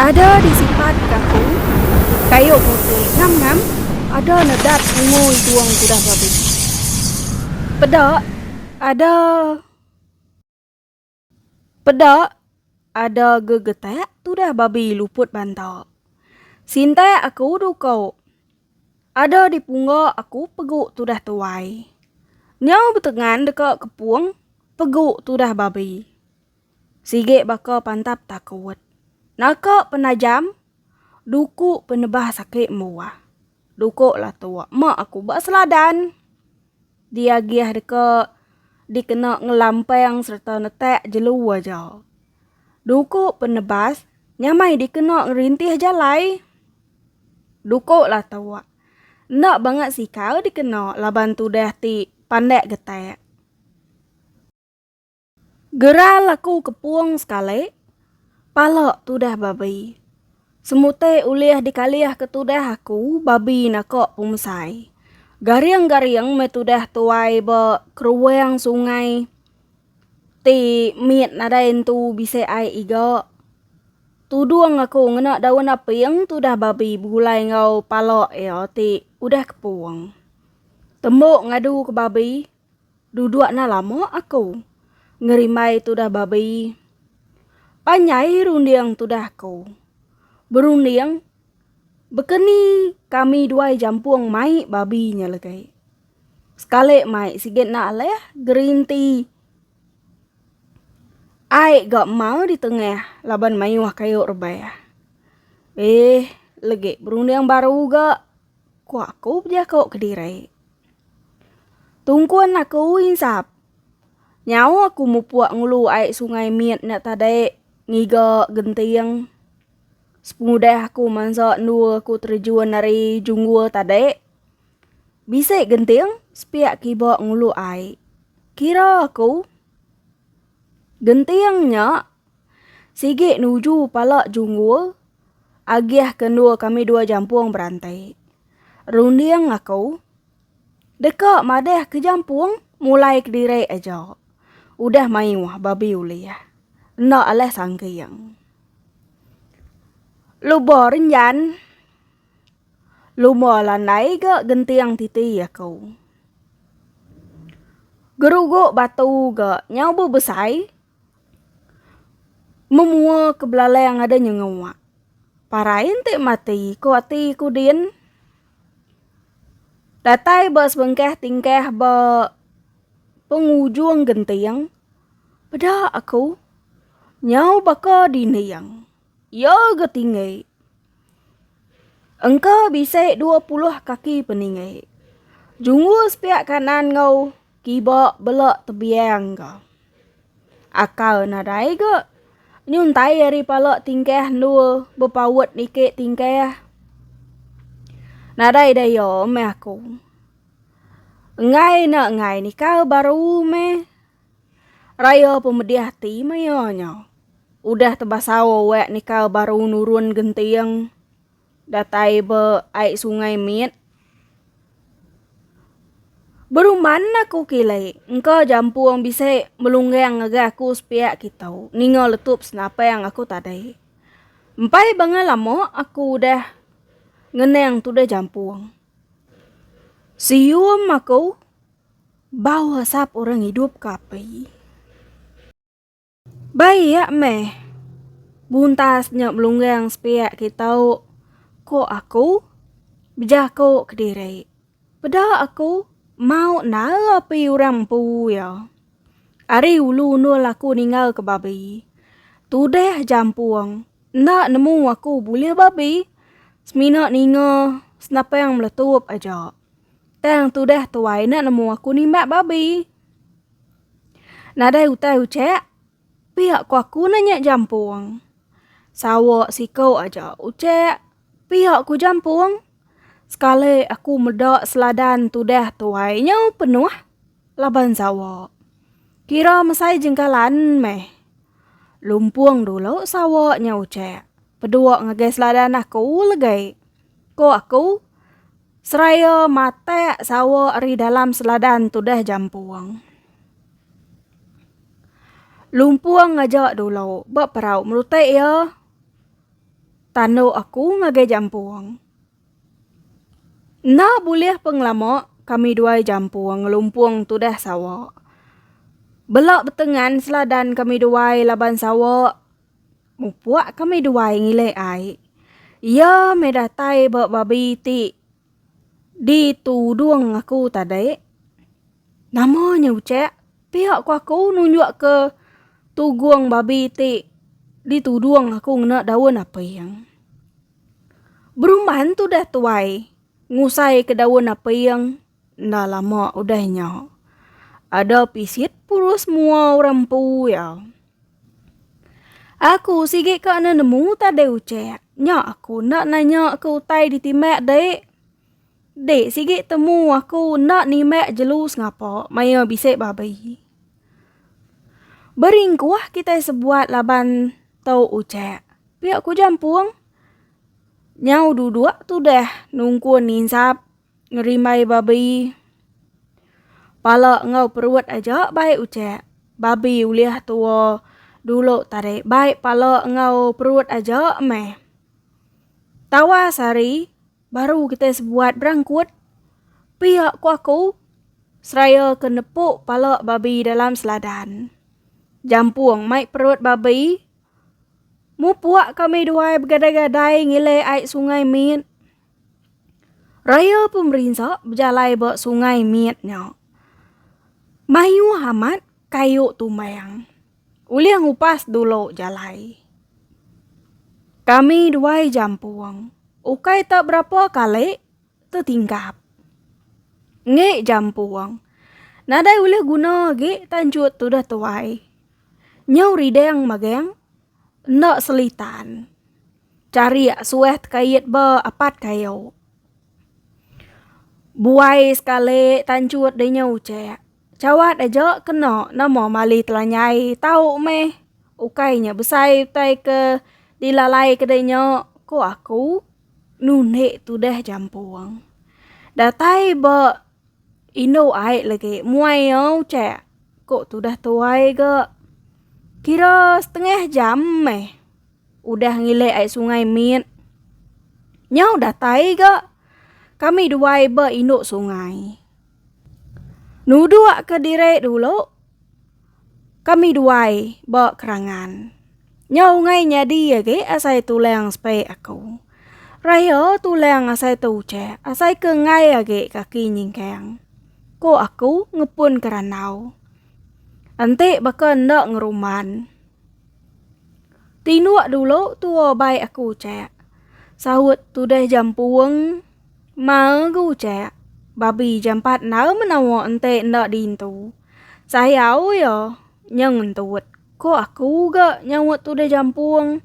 Ada di sipat kaku, kayu putih ngam-ngam, ada nedat ngui duang kudah babi. Peda ada. Peda ada gegetak tudah babi luput banta. Sintak aku duko. Ada di pungga aku pegu tudah tuai. Nyau betengan deka kepung pegu tudah babi. Sigi baka pantap takut. Naka penajam duku penebah sakit mbuah. Duko latuk mak aku ba seladan. Diagih deka dikena ngelampang sereta netak jelu aja. Duku penebas nyamai dikena ngerintih jalai. Duku latuk enda bangat sikal dikena laban tudah ti pandak getak. Geral aku kepung sekali, pala tudah babi. Semuti ulih dikalihka tudah aku babi naka pemesai. Garing-garing meh tudah tuai ba keruang sungai ti mit nadai entu bisi ai iga. Tudung aku ngena daun aping tudah babi begulai enggau pala iya ti udah kepung. Tembu ngaduka babi. Duduk na lama aku. Ngerimbai tudah babi. Panjai runding tudah aku. Berunding Bekeni kami duai jampung mai babi nya legai. Sekali mai sigi enda alih gerinti ai ga mau di tengah laban mayuh kayu rebah. Eh legi berunding baru ga Ku aku bejako kediri. Tungkun aku insap. Nyau aku mupuk ngulu ai sungai mit nya tadi ngiga genting. Sepengudah aku mansa endu aku terejun ari junggul tadi. Bisi genting sepiak kiba ngulu ai. Kira aku. Genting nya sigi nuju pala junggul. Agih ke endur kami dua jampung berantai. Runding aku. Deka madah ke jampung mulai kediri aja. Udah mayuh babi ulih. Enda alah sangking. Luba renjan. Lumba landai ga genting titi aku. Geruguk batu ga nyau bebesai. Memua ke belalai ngada nyengewa. Parai enti mati ku ati ku din. Datai ba sebengkah tingkah ba pengujung genting peda aku nyau baka dinding. Iya ga tinggi engka bisi dua puluh kaki peninggi. Jungu sepiak kanan enggau kiba bela tebiang ga. Akal nadai ga, nyuntai ari pala tingkah endur bepaut niki tingkah. Nadai daya meh aku. Enggai ne enggai nikal baru meh raya pemedih ati maya nya. Udah tebasau awak nika baru nurun genting datai ba ai sungai mit. Beruman aku kilai engka jampung bisi melunggang ngagai aku sepiak kitu ninga letup senapang aku tadi. Empai bangah lama aku udah ngenang tudah jampung. Sium aku bau asap orang idup ke api. Bai iya meh. Buntas nya belunggang sepiak ke tau, ko aku. Bejako kediri. Peda aku mau nala pi urang empu iya. Ari ulu undul aku ninggal ke babi. Tudah jampung enda nemu aku bulih babi semina ninga senapang meletup aja. Tang tudah tuai enda nemu aku nimbak babi. Nadai utai ucek, pia ko aku ne nyek jampung. Sawa siko aja ucek, pia ku jampung. Sekali aku meda seladan tudah tuai nyau penuh laban sawa. Kira mesai jengkalan meh. Lumpung dulu sawa nyau ucek, pedua ngagai seladan aku legai, ko aku. Seraya matak sawa ari dalam seladan tudah jampung. Lumpung ngaja dulu ba perau merutai iya tandu aku ngagai jampung. Enda bulih peng lama kami duai jampung ngelumpung tudah sawa. Bela betengan seladan kami duai laban sawa. Mupuk kami duai ngilik ai. Iya meh datai ba babi ti ditudung aku tadi. Nama nya ucek? Pia ku aku nunjuk ke tugung babi ti ditudung aku ngena daun aping. Berumban tudah tuai ngusai ke daun aping. Enda lama udah nya, ada pisit purus mua orang empu iya. Aku sigi ka enda nemu tadai ucek. Nya aku enda nanya ke utai ditimbak dik. Dik sigi temu aku enda nimbak jelu sengapa maya bisi babi. Beringkuh kitai sebuat laban tu ucek. Pia ku jampung. Nyau duduk tudah nungkun insap Ngerimbai babi. Pala enggau perut aja bai ucek. Babi ulih tua dulu tadi bai pala enggau perut aja meh. Tawas hari baru kitai sebuat berangkut. Pia ku aku seraya ke nepu pala babi dalam seladan. Jampung mai perut babi. Mupuk kami duai begadai-gadai ngilih ai sungai mit. Raya pemerinsa bejalai ba sungai mit nya. Mayuh amat kayu tumbang. Ulih ngupas dulu jalai. Kami duai jampung. Ukai tak berapa kali tetingkap. Ngi jampung. Nadai ulih guna agi tanjut tudah tuai. Nyau ridang magang enda selitan. Carik suah tekait ba apat kayu. Buai sekali tanchut dinya uchak. Chawat aja kena nama mali telanyai tau meh. Ukai nya besai utai ke dilalai ke dinya ku aku nundi tudah jampung. Datai ba indu ai lagi muai iya uchak ku tudah tuai ga. Kira setengah jam meh. Udah ngilik ai sungai mit. Nyau datai ga. Kami duai ba indu sungai. Nuduk ke diri dulu. Kami duai ba kerangan. Nyau ungai nyadi agi asai tulang sepe aku. Raya tulang asai te ucek, asai ke ngai agi kaki nyingkang. Ko aku ngepun ke randau. Enti baka enda ngeruman. Tinduk dulu tua bai aku cak. Saut tudah jampung magu cak. Babi jampat na menawa ente enda dintu. Sayau ya nyeng entut ko aku ga nyaut tudah jampung.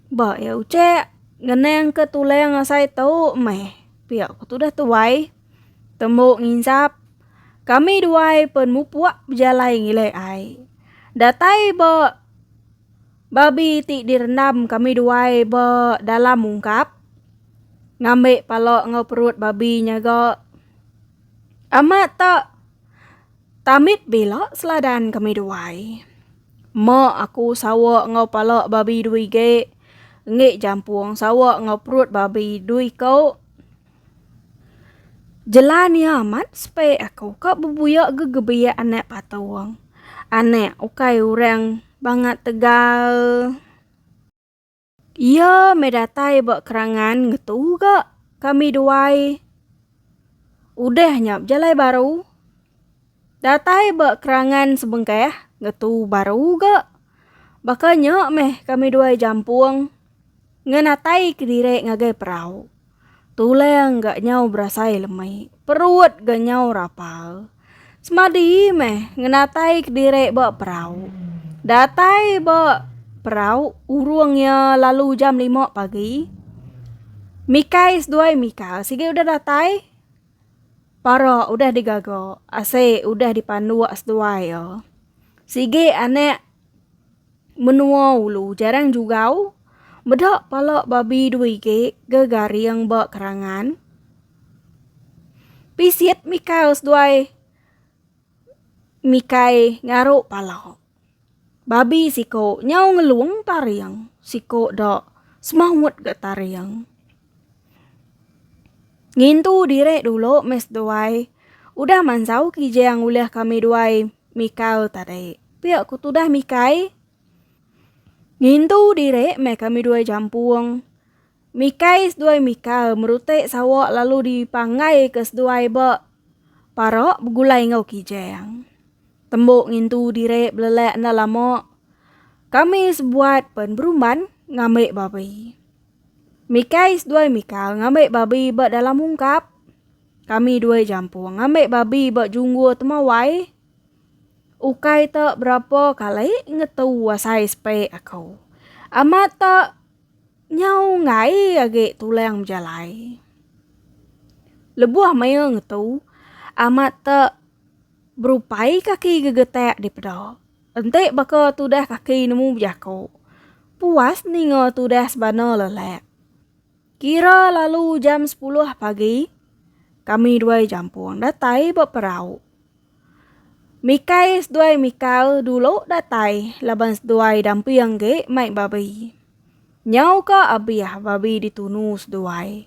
Ba ya ucak ngenang ke tulang asai tu meh pia ku tudah tuai. Tembu nginsap. Kami duai pen mupuk bejalai ngilai ai. Datai ba babi ti direndam kami duai ba dalam ungkap. Ngambi pala enggau perut babi nya ga. Amat ta tamit bila seladan kami duai. Meh aku sawa enggau pala babi dui ge. Enggi jampung sawa enggau perut babi dui ko. Jelan iya amat sepek aku ka bebuyak ke gebiak anak patung. Anak ukai orang bangat tegal. Iya meh datai ba kerangan ngetu ga kami duai. Udah nya bejalai baru. Datai ba kerangan sebengkah ngetu baru ga. Baka nya meh kami duai jampung ngenatai kediri ngagai perau. Tulang ga nyau berasai lemi, perut ga nyau rapal. Semadi meh ngenatai kediri ba perau. Datai ba perau urung iya lalu jam lima pagi. Mikai seduai mika sigi udah datai. Para udah digaga ase udah dipanduk seduai iya. Sigi anak menua ulu jarang jugau meda pala babi dua igi ga garing ba kerangan. Pisit mikau seduai mikai ngaru pala. Babi siko nyau ngelung taring, siko da semaut ga taring. Ngintu direk dulu mes duai, udah mansau kijang ulih kami duai mikau tadi. Pia ku tudah mikai. Ngintu direk meh kami duai jampung. Mikai seduai mikal merutik sawak lalu dipanggai ke seduai ba parak begulai enggau kijang. Tembok ngintu diri belelak enda lama, kami sebuat pen berumban ngambi babi. Mikai seduai mikal ngambi babi ba dalam ungkap. Kami dua jampung ngambi babi ba junggur temawai. Ukai te berapa kali ngetu asai sepi aku. Amat te. Nyau enggai agi tulang bejalai. Lebuh maya ngetu, amat te berupai kaki gegetak dipeda. Enti baka tudah kaki nemu bejaku, puas ninga tudah sebana lelak. Kira lalu jam sepuluh pagi, kami dua jampung datai ba perau. Mikai seduai mikal dulu datai laban seduai damping ge mai babi. Nyau ka abih babi ditunu seduai.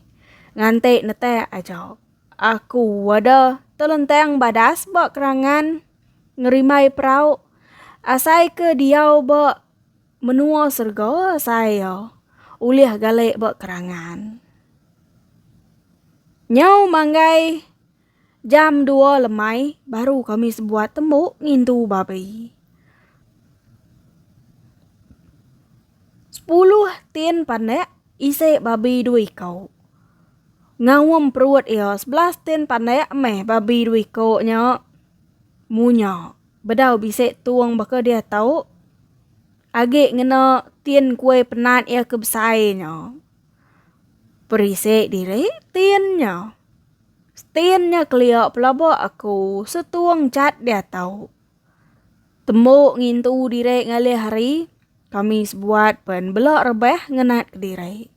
Ngante netak aja. Aku wada telentang badas ba kerangan ngerimbai perau asai ke diau ba menua serega asai iya ulih galek ba kerangan. Nyau manggai. Jam dua lemai baru kami sebuat tembu ngintu babi. Sepuluh tin panek isi babi dua iko. Ngaum perut iya sebelas tin panek meh babi dua iko nya munya bedau bisi tung baka dia tau agi ngena tin kuih penat iya ke besai nya. Perisi diri tin nya. Stain nya kelia pelaba aku setung chat diatau. Tembu ngintu diri ngalih hari, kami sebuat pen bela rebah ngenat kediri.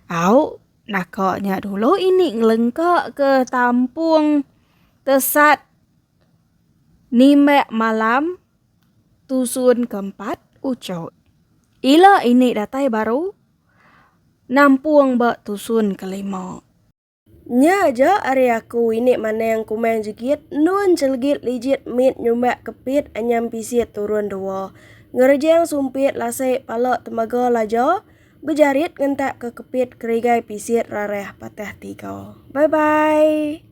Au, naka nya dulu ini ngelengka ke tampung tesat nimbak malam tusun ke empat uchoy. Ila ini datai baru nampung ba tusun ke lima. Nya aja ari aku ini maneng kumang jegit endun celegit lijit mit nyumbak kepit anyam pisit turun dua. Ngerejang sumpit lasik pala tembaga laja bejarit ngentak ke kepit kerigai pisit rarah patah tiga. Bye bye.